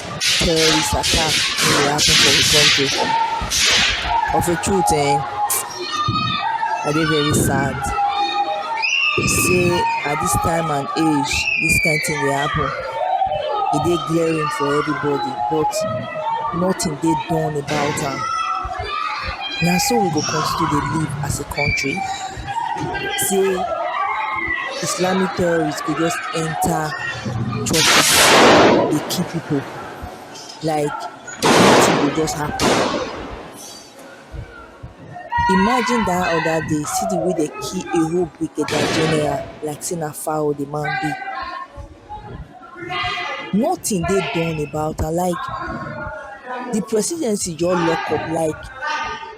terrorist attack wey dey happen for we country of a truth um I dey very sad sey at dis time and age dis kind thing dey happen e dey glaring for everybody but nothing dey done about am na so we go continue to dey live as a country. say islamic terrorists go just enter churches dey kill people like nothing go just happen imagine that other day see the way they kill a whole brigadier general like say na fowl the man be nothing dey done about am like the presidency just lock up like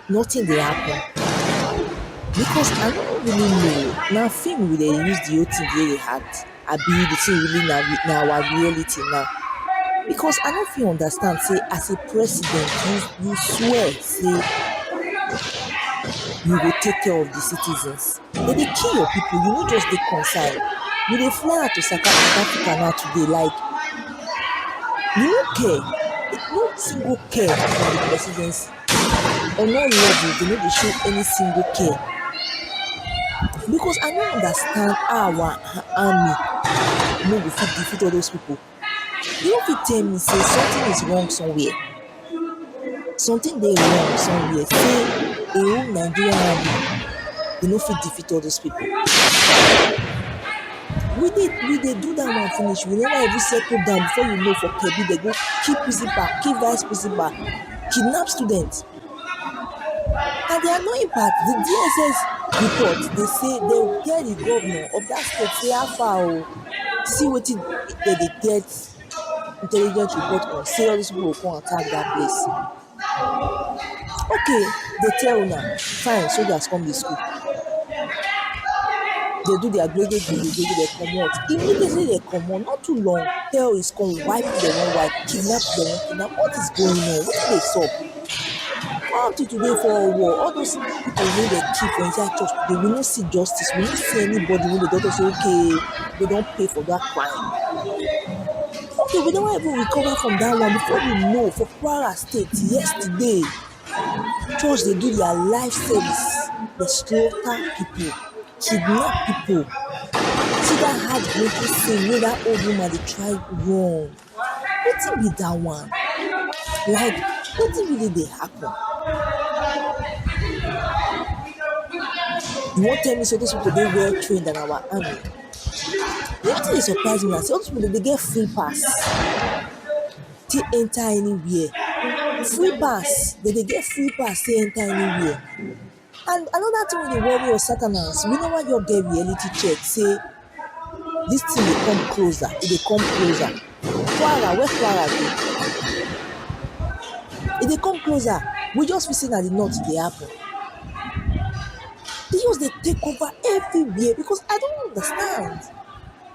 nothing dey happen because i no really know na film we dey use the whole thing take dey act abi the thing really na na our reality na because i no fit understand sey as a president you you swear sey you go take care of the citizens. They dey kill your people, you no just dey concern. You dey fly out to South Africa now today like you no care, no single care for the presidency. On all levels, they no dey show any single care. Because I no understand how our army no go fit defeat all those people. You no fit tell me sey something is wrong somewhere something dey wrong somewhere sey de whole Nigerian army dey no fit defeat all those people we dey we dey do dat one finish we never even settle down before you know for Kebbi dem go kill principal kill vice principal kidnap students And di annoying part di DSS report dey say dem go tell di governor of dat state say how far oo see wetin dem dey get intelligent report on say all dis people go come attack dat place okay dem tell una fine soldiers come dey school They do their gbe gbe gbe gbe they comot. Immediately they comot, not too long, tell is come wipe them one wipe, kidnap them one kidnap. What is going on? What is this up? How did you wait for a war? All those people wey dey kill for inside church today, we no see justice, we no see anybody wey dey talk say okay, they don pay for that crime. Okay, we never even recover from that one before we know for Kwara State yesterday. church dey do their live service dey slaughter people kidnap people see that heart breaking thing wey that old woman dey try run wetin be that one like wetin really dey happen you wan tell me say those people dey well trained than our army wetin dey surprise me na say all those people dem dey get free pass. take enter anywhere free pass dem dey get free pass take enter anywhere and another thing wey dey worry us Saturdays we never just get reality check say this thing dey come closer e dey come closer kwara where kwara dey e dey come closer we just feel say na the north e dey happen e just dey take over everywhere because I don't understand.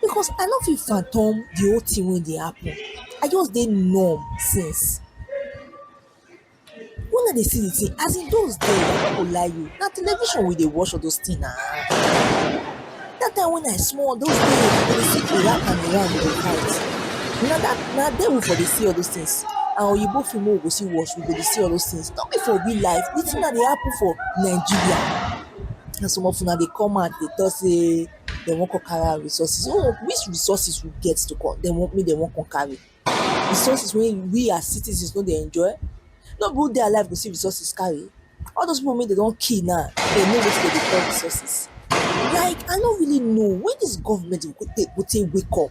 because I no fit fathom the whole thing wey dey happen. I just dey numb since. When I dey see the thing, as e dose dey, I no go lie you, na television we dey watch all dose things na. Dat time when I small, dose days we dey see Iraq and Iran dey fight. Na dat na there we for dey see all dose things. Na Oyinbo film wey we go still watch, we go dey see all dose things. No be for real life. The thing na dey happen for Nigeria. Na some of una dey come out dey talk sey dey wan come carry out resources so which resources we get to come dey wan make dey wan come carry resources wey we as citizens no dey enjoy no be who dey alive go see resources carry all those people wey dey don kill now dey know wetin dey dey call resources like i no really know when this government go take go take wake up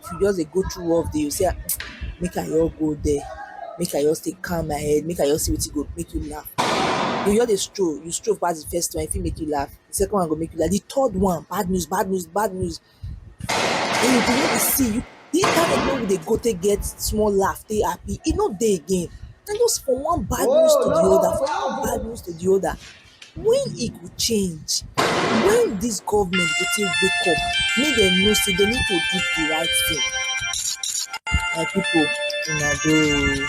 if you just dey go through work dey say make I just go there make I just take calm my head make I just see wetin go make me laugh you just dey stroll you stroll pass the first one e fit make you laugh the second one go make you laugh the third one bad news bad news bad news and you go just dey see you the internet wey we dey go take get small laugh take happy e no dey again na just from one bad news to the other from one bad news to the other When e go change? When this government go take wake up make dem know say dem need to do the right thing? My people una doh oo